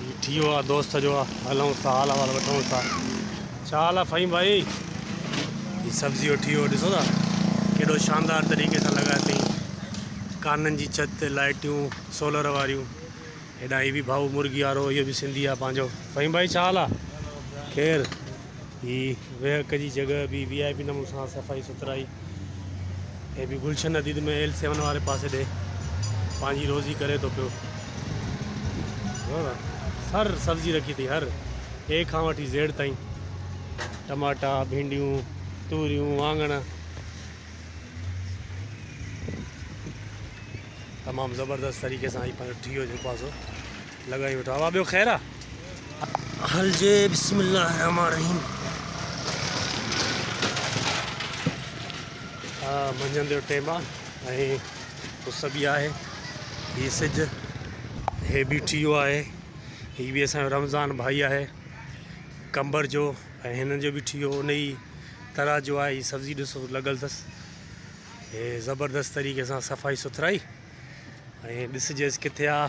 هي ٺيو آ دوست جو هلونس ٿا حال احوال وٺونس ٿا ڇا حال آ فهيم ڀائي هي سبزي جو ٺيو ڏسو ٿا ڪيڏو شاندار طريقي سان لڳايو اٿئي ڪانن جي ڇت تي لائٽيون سولر واريون هيڏانهن هي به ڀائو مرغي وارو اهو به سنڌي آ پنهنجو فهيم ڀائي ڇا حال آ خير هي ويهڪ جي جڳهه به وي آء پي نموني سان صفائي سٿرائي هي به گلشن اديد ۾ ايل سيون واري پاسي ڏي پنهنجي روزي ڪري ٿو پيو سر سبزي رکي ٿي هر اي کان وٺي زيڊ تائين ٽماٽا ڀينڊيون توريون وانگڻ تمام زبردست طريقي سان هي پنهنجو ٺيو جو پاسو لڳائي ويٺو آ وا ٻيو خير آ. هلجي بسم الله الرحمٰن الرحيم. آ منجهند جو ٽيم آ ۽ اس به آهي هي سج هي بيٺي ويو آهي هي به اسان جو رمضان ڀائي آهي قمبر جو ۽ هنن جو بيٺي ويو ان ئي طرح جو آهي هي سبزي ڏسو لڳل اٿس هي زبردست طريقي سان صفائي سٿرائي ۽ ڏسجيس ڪٿي آ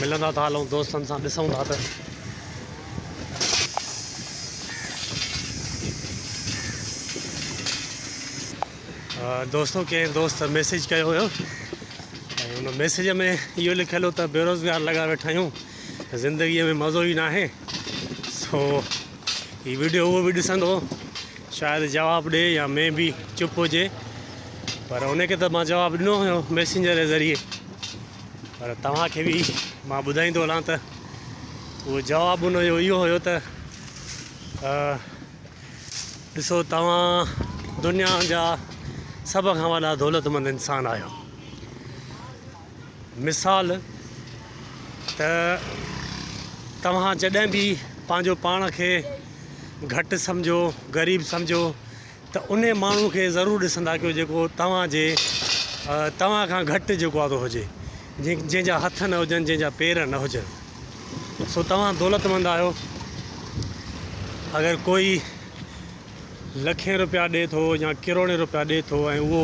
ملندا ٿا هلون دوستن سان ڏسون ٿا ته دوستو ڪنهن دوست ميسج ڪيو هيو ۽ ان ميسج ۾ اهو لکيل هو ته بيروزگار لڳا ويٺا آهيون زندگيء ۾ مزو ئي ناهي سو هي وڊيو هو به ڏسندو شايد جواب ڏي يا مي بي چپ هجي پر ان کي ته مان جواب ڏنو هيو ميسنجر جي ذريعي پر توهان کي به مان ٻڌائيندو هلان ته اهو جواب ان جو اهو هيو ته ڏسو توهان دنيا جا سڀ کان وڏا دولتمند انسان آهيو مثال ته توهان جڏهن به پنهنجو پاڻ کي گهٽ سمجهو غريب سمجهو ته ان ماڻهو کي ضرور ڏسندا ڪيو جيڪو توهانجي توهان کان گهٽ جيڪو آهي تو هجي جنهن جنهن جا هٿ نه هجن جنهن جا پير نه هجن سو توهان دولتمند آهيو اگر ڪوئي لکين روپيا ڏي ٿو يا ڪروڙين روپيا ڏي ٿو ۽ اهو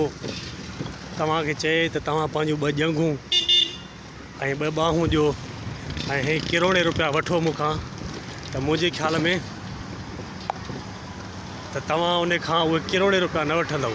توهان کي چئي ته توهان پنهنجون ٻه ڄنگهون ۽ ٻه ٻانهون ڏيو ۽ هي ڪروڙين روپيا وٺو مون کان ته منهنجي خيال ۾ ته توهان ان کان اهي ڪروڙين روپيا نه وٺندؤ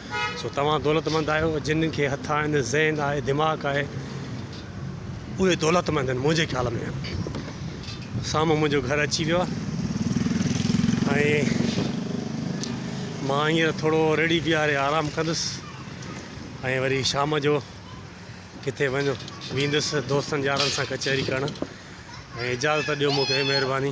سو توهان دولتمند آهيو، جن کي هٿ آهن، ذهن آهي، دماغ آهي، اهي دولتمند آهن، منهنجي خيال ۾ سامهون منهنجو گهر اچي ويو آهي ۽ مان هينئر ٿورو ريڙهي بيهاري آرام ڪندس ۽ وري شام جو ڪٿي وڃ ويندس دوستن يارن سان ڪچهري ڪرڻ ۽ اجازت ڏيو مون کي مهرباني.